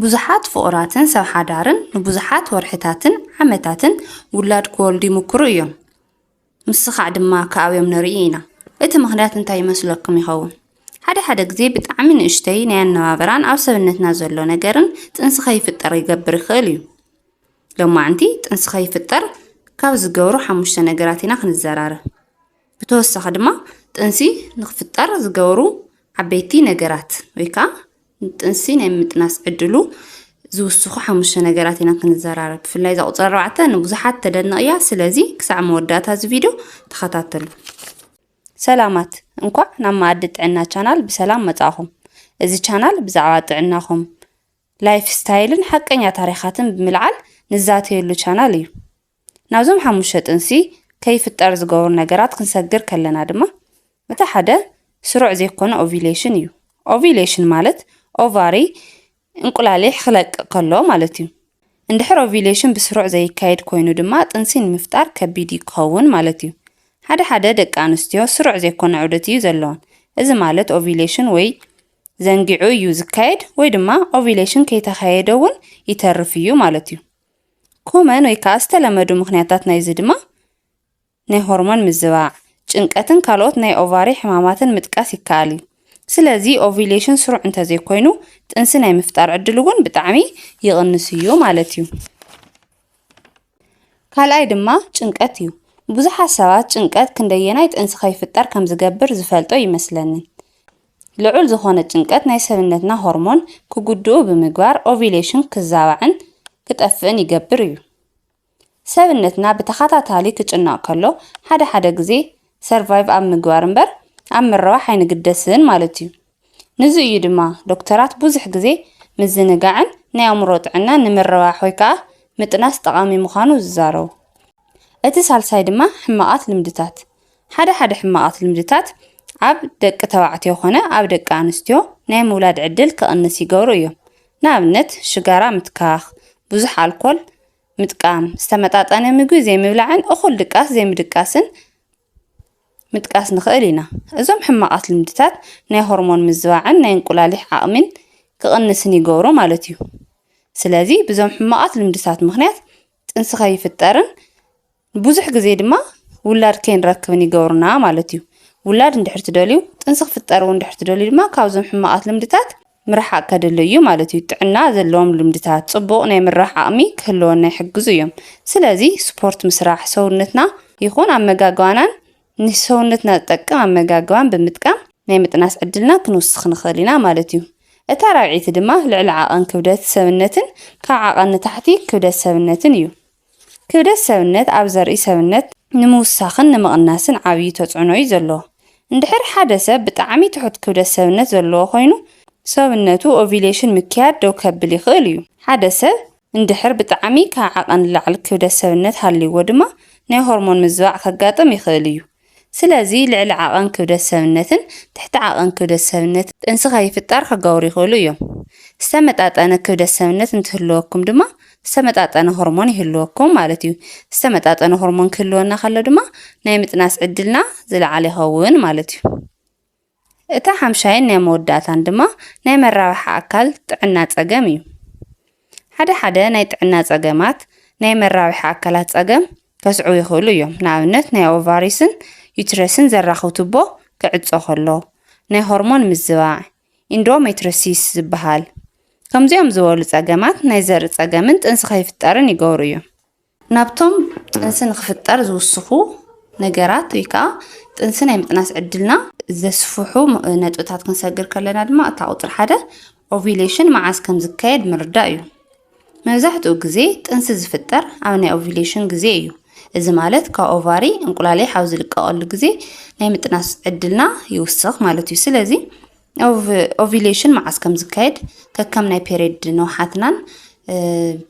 ብዙሓት ፍቑራትን ሰብ ሓዳርን ንብዙሓት ወርሕታትን ዓመታትን ውላድ ክወልዱ ይምኩሩ እዮም። ምስኻዕ ድማ ክኣብዮም ንርኢ ኢና። እቲ ምኽንያት እንታይ ይመስለኩም ይኸውን? ሓደ ሓደ ግዜ ብጣዕሚ ንእሽተይ ናይ ኣነባብራን ኣብ ሰብነትና ዘሎ ነገርን ጥንሲ ከይፍጠር ይገብር ይኽእል እዩ። ሎማዕንቲ ጥንሲ ከይፍጠር ካብ ዝገብሩ ሓሙሽተ ነገራት ኢና ክንዘራረብ። ብተወሳኺ ድማ ጥንሲ ንክፍጠር ዝገብሩ ዓበይቲ ነገራት ወይ ከዓ ጥንሲ ናይ ምጥናስ ዕድሉ ዝውስኹ ሓሙሽተ ነገራት ኢና ክንዘራረብ ብፍላይ እዛ ቁፅሪ ኣርባዕተ ንብዙሓት ተደንቕ እያ ስለዚ ክሳዕ መወዳእታ እዚ ቪድዮ ተኸታተሉ ሰላማት እንኳዕ ናብ መኣዲ ጥዕና ቻናል ብሰላም መጻእኹም እዚ ቻናል ብዛዕባ ጥዕናኹም ላይፍ ስታይልን ሓቀኛ ታሪኻትን ብምልዓል ንዛተየሉ ቻናል እዩ ናብዞም ሓሙሽተ ጥንሲ ከይፍጠር ዝገብሩ ነገራት ክንሰግር ከለና ድማ እቲ ሓደ ስሩዕ ዘይኮነ ኦቪሌሽን እዩ። ኦቪሌሽን ማለት ኦቫሪ እንቁላሊሕ ክለቅቕ ከሎ ማለት እዩ። እንድሕር ኦቪሌሽን ብስሩዕ ዘይካየድ ኮይኑ ድማ ጥንሲ ንምፍጣር ከቢድ እዩ ክኸውን ማለት እዩ። ሓደ ሓደ ደቂ ኣንስትዮ ስሩዕ ዘይኮነ ዑደት እዩ ዘለወን። እዚ ማለት ኦቪሌሽን ወይ ዘንጊዑ እዩ ዝካየድ ወይ ድማ ኦቪሌሽን ከይተኻየደ እውን ይተርፍ እዩ ማለት እዩ። ኮመን ወይ ከኣ ዝተለመዱ ምኽንያታት ናይዚ ድማ ናይ ሆርሞን ምዝባዕ፣ ጭንቀትን ካልኦት ናይ ኦቫሪ ሕማማትን ምጥቃስ ይከኣል እዩ። ስለዚ ኦቪሌሽን ስሩዕ እንተዘይኮይኑ ጥንሲ ናይ ምፍጣር ዕድል እውን ብጣዕሚ ይቕንስ እዩ ማለት እዩ። ካልኣይ ድማ ጭንቀት እዩ። ብዙሓት ሰባት ጭንቀት ክንደየናይ ጥንሲ ከይፍጠር ከምዝገብር ዝፈልጦ ኣይመስለንን። ልዑል ዝኾነ ጭንቀት ናይ ሰብነትና ሆርሞን ክጉድኡ ብምግባር ኦቪሌሽን ክዛባዕን ክጠፍእን ይገብር እዩ። ሰብነትና ብተኻታታሊ ክጭነቕ ከሎ ሓደ ሓደ ግዜ ሰርቫይቭ ኣብ ምግባር እምበር ኣብ ምርባሕ ኣይንግደስን ማለት እዩ። ንዙ እዩ ድማ ዶክተራት ብዙሕ ግዜ ምዝንጋዕን ናይ ኣእምሮ ጥዕናን ንምርባሕ ወይ ከዓ ምጥናስ ጠቓሚ ምዃኑ ዝዛረቡ። እቲ ሳልሳይ ድማ ሕማቓት ልምድታት ሓደ ሓደ ሕማቓት ልምድታት ኣብ ደቂ ተባዕትዮ ኮነ ኣብ ደቂ ኣንስትዮ ናይ ምውላድ ዕድል ክቕንስ ይገብሩ እዮም። ንኣብነት ሽጋራ ምትካኽ፣ ብዙሕ ኣልኮል ምጥቃም፣ ዝተመጣጠነ ምግቢ ዘይምብላዕን እኹል ድቃስ ዘይምድቃስን ምጥቃስ ንኽእል ኢና። እዞም ሕማቓት ልምድታት ናይ ሆርሞን ምዝባዕን ናይ እንቁላሊሕ ዓቕሚን ክቕንስን ይገብሩ ማለት እዩ። ስለዚ ብዞም ሕማቓት ልምድታት ምኽንያት ጥንሲ ከይፍጠርን ብዙሕ ግዜ ድማ ውላድ ከይንረክብን ይገብሩና ማለት እዩ። ውላድ እንድሕር ትደልዩ፣ ጥንሲ ክፍጠር እውን እንድሕር ትደልዩ ድማ ካብዞም ሕማቓት ልምድታት ምርሓቕ ከድሊ እዩ ማለት እዩ። ጥዕና ዘለዎም ልምድታት ጽቡቕ ናይ ምርራሕ ዓቕሚ ክህልወና ይሕግዙ እዮም። ስለዚ ስፖርት ምስራሕ፣ ሰውነትና ይኹን ኣመጋግባናን ንሰውነትና ዝጠቅም ኣመጋግባን ብምጥቃም ናይ ምጥናስ ዕድልና ክንውስኽ ንኽእል ኢና ማለት እዩ። እታ ራብዒቲ ድማ ልዕሊ ዓቐን ክብደት ሰብነትን ካብ ዓቐን ንታሕቲ ክብደት ሰብነትን እዩ። ክብደት ሰብነት ኣብ ዘርኢ ሰብነት ንምውሳኽን ንምቕናስን ዓብዩ ተፅዕኖ እዩ ዘለዎ። እንድሕር ሓደ ሰብ ብጣዕሚ ትሑት ክብደት ሰብነት ዘለዎ ኮይኑ ሰብነቱ ኦቪሌሽን ምክያድ ደው ከብል ይኽእል እዩ። ሓደ ሰብ እንድሕር ብጣዕሚ ካብ ዓቐን ንላዕሊ ክብደት ሰብነት ሃልይዎ ድማ ናይ ሆርሞን ምዝባዕ ከጋጥም ይኽእል እዩ። ስለዚ ልዕሊ ዓቐን ክብደት ሰብነትን ትሕቲ ዓቐን ክብደት ሰብነትን ጥንሲ ከይፍጠር ክገብሩ ይኽእሉ እዮም። ዝተመጣጠነ ክብደት ሰብነት እንትህልወኩም ድማ ዝተመጣጠነ ሆርሞን ይህልወኩም ማለት እዩ። ዝተመጣጠነ ሆርሞን ክህልወና ከሎ ድማ ናይ ምጥናስ ዕድልና ዝለዓለ ይኸውን ማለት እዩ። እታ ሓምሻይን ናይ መወዳእታን ድማ ናይ መራባሕ ኣካል ጥዕና ጸገም እዩ። ሓደ ሓደ ናይ ጥዕና ጸገማት ናይ መራብሒ ኣካላት ጸገም ከስዕቡ ይኽእሉ እዮም። ንኣብነት ናይ ኦቫሪስን ዩትረስን ዘራኽብ ቱቦ ክዕጾ ከሎ፣ ናይ ሆርሞን ምዝባዕ፣ ኢንዶሜትሮሲስ ዝበሃል። ከምዚኦም ዝበሉ ጸገማት ናይ ዘርኢ ጸገምን ጥንሲ ከይፍጠርን ይገብሩ እዮም። ናብቶም ጥንሲ ንኽፍጠር ዝውስኹ ነገራት ወይ ከዓ ጥንሲ ናይ ምጥናስ ዕድልና ዘስፍሑ ነጥብታት ክንሰግር ከለና ድማ እታ ቁፅሪ ሓደ ኦቪሌሽን መዓዝ ከም ዝካየድ ምርዳእ እዩ። መብዛሕትኡ ግዜ ጥንሲ ዝፍጠር ኣብ ናይ ኦቪሌሽን ግዜ እዩ። እዚ ማለት ካብ ኦቫሪ እንቁላሌ ሓው ዝልቀቐሉ ግዜ ናይ ምጥናስ ዕድልና ይውስኽ ማለት እዩ። ስለዚ ኦቪሌሽን መዓስ ከም ዝካየድ ከከም ናይ ፔሬድ ንውሓትናን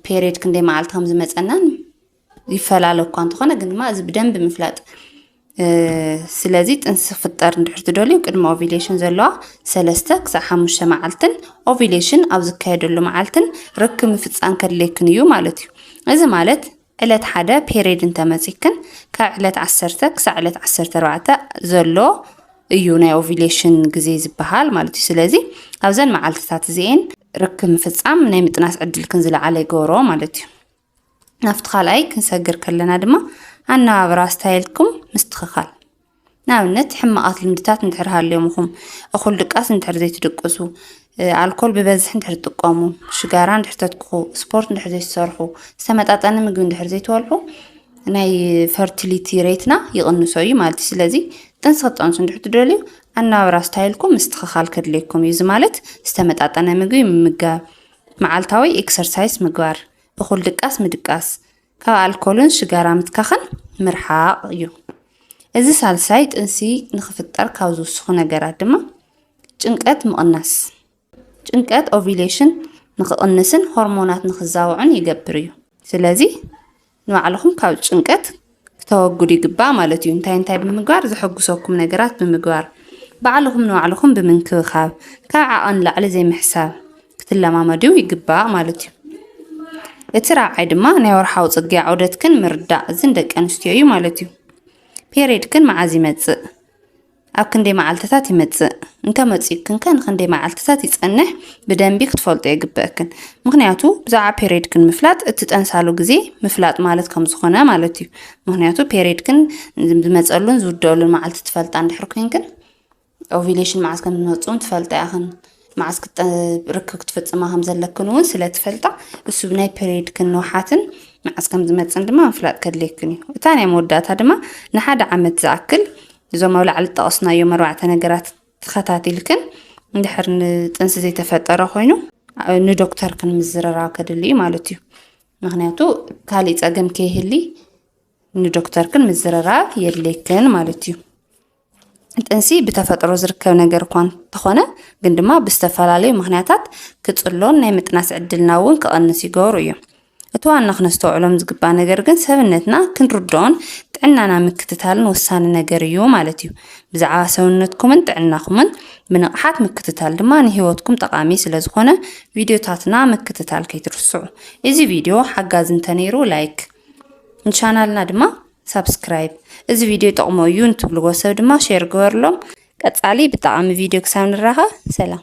ፔሬድ ክንደይ መዓልቲ ከም ዝመፀናን ይፈላለ እኳ እንተኾነ ግን ድማ እዚ ብደንብ ምፍላጥ ስለዚ ጥንሲ ክፍጠር እንድሕር ትደልዩ ቅድሚ ኦቪሌሽን ዘለዋ ሰለስተ ክሳብ ሓሙሽተ መዓልትን ኦቪሌሽን ኣብ ዝካየደሉ መዓልትን ርክብ ምፍፃም ከድለይክን እዩ ማለት እዩ እዚ ማለት ዕለት ሓደ ፔሬድ እንተመጺክን ካብ ዕለት ዓሰርተ ክሳዕ ዕለት ዓሰርተ ኣርባዕተ ዘሎ እዩ ናይ ኦቪሌሽን ግዜ ዝበሃል ማለት እዩ ስለዚ ኣብዘን መዓልትታት እዚኤን ርክብ ምፍጻም ናይ ምጥናስ ዕድልክን ዝለዓለ ይገብሮ ማለት እዩ ናብቲ ካልኣይ ክንሰግር ከለና ድማ ኣነባብራ ስታይልኩም ምስትኽኻል ንኣብነት ሕማቓት ልምድታት እንድሕር ሃልዮምኹም፣ እኹል ድቃስ እንድሕር ዘይትድቅሱ፣ ኣልኮል ብበዝሒ እንድሕር ትጥቀሙ፣ ሽጋራ እንድሕር ተትኩኹ፣ ስፖርት እንድሕር ዘይትሰርሑ፣ ዝተመጣጠነ ምግቢ እንድሕር ዘይትበልዑ ናይ ፈርቲሊቲ ሬትና ይቕንሶ እዩ ማለት እዩ። ስለዚ ጥንሲ ክትጠንሱ እንድሕር ትደልዩ ኣነባብራ ስታይልኩም ምስትኽኻል ከድልየኩም እዩ። እዚ ማለት ዝተመጣጠነ ምግቢ ምምጋብ፣ መዓልታዊ ኤክሰርሳይስ ምግባር፣ እኹል ድቃስ ምድቃስ፣ ካብ ኣልኮልን ሽጋራ ምትካኽን ምርሓቕ እዩ። እዚ ሳልሳይ ጥንሲ ንክፍጠር ካብ ዝውስኹ ነገራት ድማ ጭንቀት ምቕናስ ጭንቀት ኦቪሌሽን ንክቕንስን ሆርሞናት ንክዛውዑን ይገብር እዩ። ስለዚ ንባዕልኹም ካብ ጭንቀት ክተወግዱ ይግባእ ማለት እዩ። እንታይ እንታይ ብምግባር ዘሐጉሰኩም ነገራት ብምግባር ባዕልኹም ንባዕልኹም ብምንክብኻብ ካብ ዓቐን ላዕሊ ዘይምሕሳብ ክትለማመድዩ ይግባእ ማለት እዩ። እቲ ራብዓይ ድማ ናይ ወርሓዊ ጽግያ ዑደትክን ምርዳእ እዝን ደቂ ኣንስትዮ እዩ ማለት እዩ። ፔሬድክን መዓዝ ይመጽእ? ኣብ ክንደይ መዓልትታት ይመጽእ? እንተመጺእክን ከ ንክንደይ መዓልትታት ይጸንሕ? ብደንቢ ክትፈልጦ የግበአክን። ምክንያቱ ብዛዕባ ፔሬድክን ምፍላጥ እቲ ጠንሳሉ ግዜ ምፍላጥ ማለት ከም ዝኾነ ማለት እዩ። ምክንያቱ ፔሬድክን ዝመጸሉን ዝውደሉን መዓልቲ ትፈልጣ እንድሕር ኮይንክን ኦቪሌሽን መዓስ ከም ዝመፅኡን ትፈልጣ ኢኽን መዓስ ርክብ ክትፍፅማ ከም ዘለክን እውን ስለ ትፈልጣ እሱ ናይ ፔሪድክን ንውሓትን መዓስ ከም ዝመፅን ድማ ምፍላጥ ከድልየክን እዩ እታ ናይ መወዳእታ ድማ ንሓደ ዓመት ዝኣክል እዞም ኣብ ላዕሊ ዝጠቐስናዮም ኣርባዕተ ነገራት ተኸታቲልክን እንድሕር ንጥንሲ ዘይተፈጠረ ኮይኑ ንዶክተርክን ምዝርራብ ከድሊ እዩ ማለት እዩ ምክንያቱ ካሊእ ፀገም ከይህሊ ንዶክተርክን ምዝርራብ የድልየክን ማለት እዩ። ጥንሲ ብተፈጥሮ ዝርከብ ነገር እኳ እንተኾነ ግን ድማ ብዝተፈላለዩ ምክንያታት ክጽሎን ናይ ምጥናስ ዕድልና እውን ክቐንስ ይገብሩ እዮም። እቲ ዋና ክነስተውዕሎም ዝግባእ ነገር ግን ሰብነትና ክንርድኦን ጥዕናና ምክትታልን ወሳኒ ነገር እዩ ማለት እዩ። ብዛዕባ ሰውነትኩምን ጥዕናኹምን ብንቕሓት ምክትታል ድማ ንህይወትኩም ጠቓሚ ስለ ዝኾነ ቪድዮታትና ምክትታል ከይትርስዑ። እዚ ቪድዮ ሓጋዚ እንተነይሩ ላይክ ንቻናልና ድማ ሳብስክራይብ እዚ ቪድዮ ይጠቕሞ እዩ እንትብልዎ ሰብ ድማ ሼር ግበርሎም። ቀጻሊ ብጠቓሚ ቪድዮ ክሳብ ንራኸብ ሰላም።